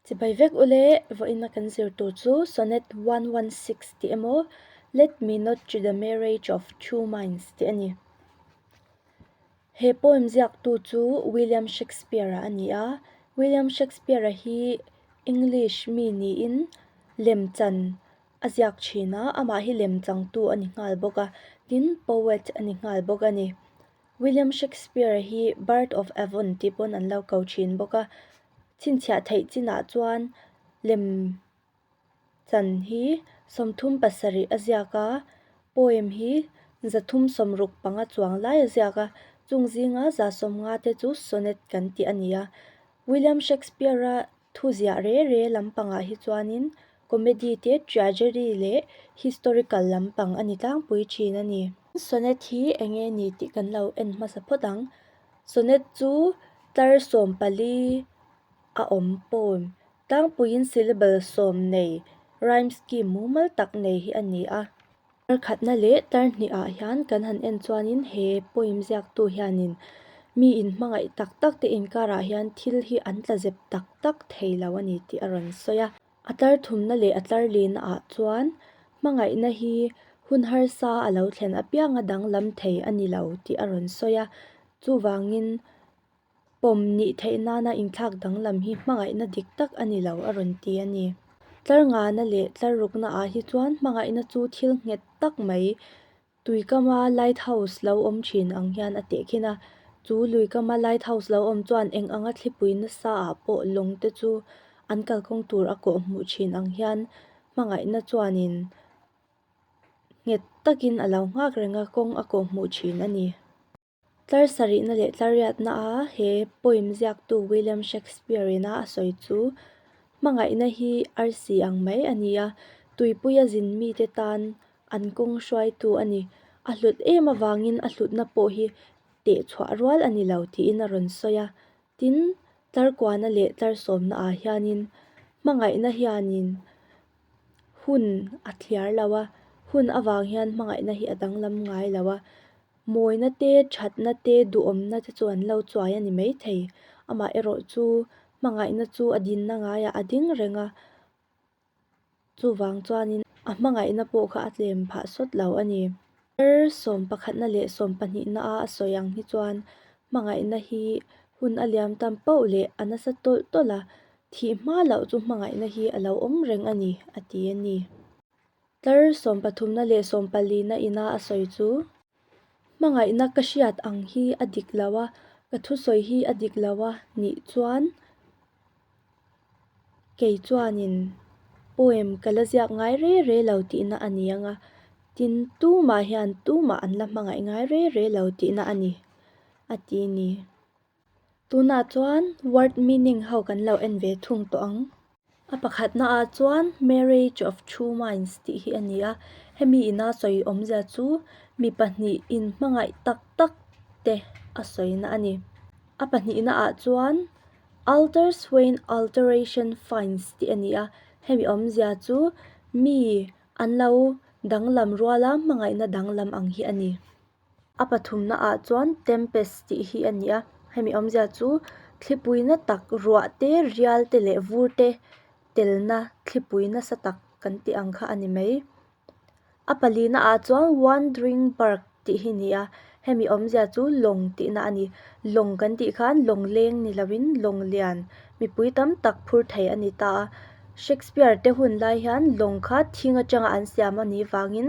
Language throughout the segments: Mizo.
Chibai vek ule, vawiina kan zir tur chu Sonnet one one six tih emaw, Let me not cheat the marriage of two minds tih a ni. He poem ziaktu chu William Shakespeare a ni a, William Shakespeare hi English mi niin lemchan a ziak thin a, amah hi lemchangtu a ni nghal bawk a, tin poet a ni nghal bawk a ni. William Shakespeare hi Bard of Avon tih paw'n an lo ko thin bawk a. Chhinchhiah theih chinah chuan lem chan hi sawmthum pasarih a ziak a, poem hi za thum sawm ruk panga chuang lai a ziak a, chung zinga za sawm nga te chu sonnet kan tih a ni a. William Shakespeare-a Thuziah re re lampangah hi chuanin comedy te tragedy leh historical lampang a ni tlangpui thin a ni. Sonnet hi eng nge ni tih kan lo en hmasa phawt ang. Sonnet chu tlar sawm pali a awm poem tlangpuiin syllable sawm nei, rhyme scheme mumal tak nei hi a ni a. Tarkhatna leh tarhnih ah hian kan han en chuanin he poem ziaktu hianin mi in hmangaih tak tak te inkar ah hian thil hi an tla zep tak tak thei lo a ni tih a rawn sawi a. A tlar thumna leh a tlar lehna ah chuan hmangaihna hi hun harsa a lo thlen apiang a danglam thei a ni lo tih a rawn sawi a. Chuvangin Pawm nih theih nana inthlak danglam hi hmangaihna dik tak a ni lo a rawn ti a ni. Tlar ngana leh tlar rukna ah hi chuan hmangaihna chu thil nghet tak mai Tuikama Light House lo awm thin ang hian a tehkhin a. Chu Luikama Light House lo awm chuan eng anga thlipui nasa ah pawh lawng te chu an kalkawng tur a kawh hmuh thin ang hian hmangaihna chuan in nghet takin a lo nghak reng a kawng a kawh hmuh thin a ni. Tlarsarihna leh tlarriatna a he poem ziaktu William Shakespeare ina a sawi chu hmangaihna hi arsi ang mai a ni a, tuipui a zin mite tan an kawng hruaitu a ni, a hlut em avangin a hlutna pawh hi teh chhuah rual a ni lo tiin a rawn sawi a. Tin, tlarkuahna leh tlarsawmna ah hianin hmangaihna hianin hun a thliar lo a, hun avang hian hmangaihna hi a danglam ngai lo a. Mawina te, thatna te, duhawmna te chu an lo chuai a ni mai thei. Amah erawh chu hmangaihna chu a dinna ngaiah a ding reng a, chuvang chuanin a hmangaihna pawh kha a tlem phah sawt lo a ni. Thar sawm pakhatna leh sawm pahnihna a a sawi ang hi chuan hmangaihna hi hun a liam tam pauh leh a nasa tawlh tawlh a, thih hma loh chu hmangaihna hi a lo awm reng a ni, a ti a ni. Tlar sawm pathumna leh sawm palina ina a sawi chu, Hmangaihna ka hriat ang hi a dik lo a, ka thusawi hi a dik lo a nih chuan kei chuanin poem ka la ziak ngai re re lo tihna a ni ang a, tin tumah hian tumah an la hmangaih ngai re re lo tihna a ni a ti ni. Tunah chuan word meaning ho kan lo en ve thung tawh ang. A pakhatna ah chuan marriage of two minds tih hi a ni a, hemi ina sawi awmzia chu mi pahnih in hmangaih tak tak te a sawina a ni. A pahnihna ah chuan alter swain alteration finds tih a ni a, hemi awmzia chu mi an lo danglam ruala hmangaihna danglam ang hi a ni. A pathumna ah chuan Tempest tih hi a ni a, hemi awmzia chu thlipui na tak ruah te rial te leh vur te telna thlipui nasa tak kan tih ang kha a ni mai. A pali na ah chuan Wandering Bark tih hi ni a, hemi awmzia chu lawng tih na a ni. Lawng kan tih khan lawng leng ni lo in lawng lian mipui tam tak phur thei a ni ta a. Shakespeare te hun lai hian lawng kha thing atanga an siam a nih vang in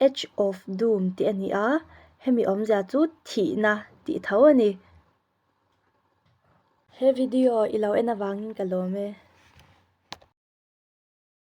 Edge of Doom tih a ni a, hemi awmzia chu thihna tih tho a ni. He video i lo en avangin ka lawm e.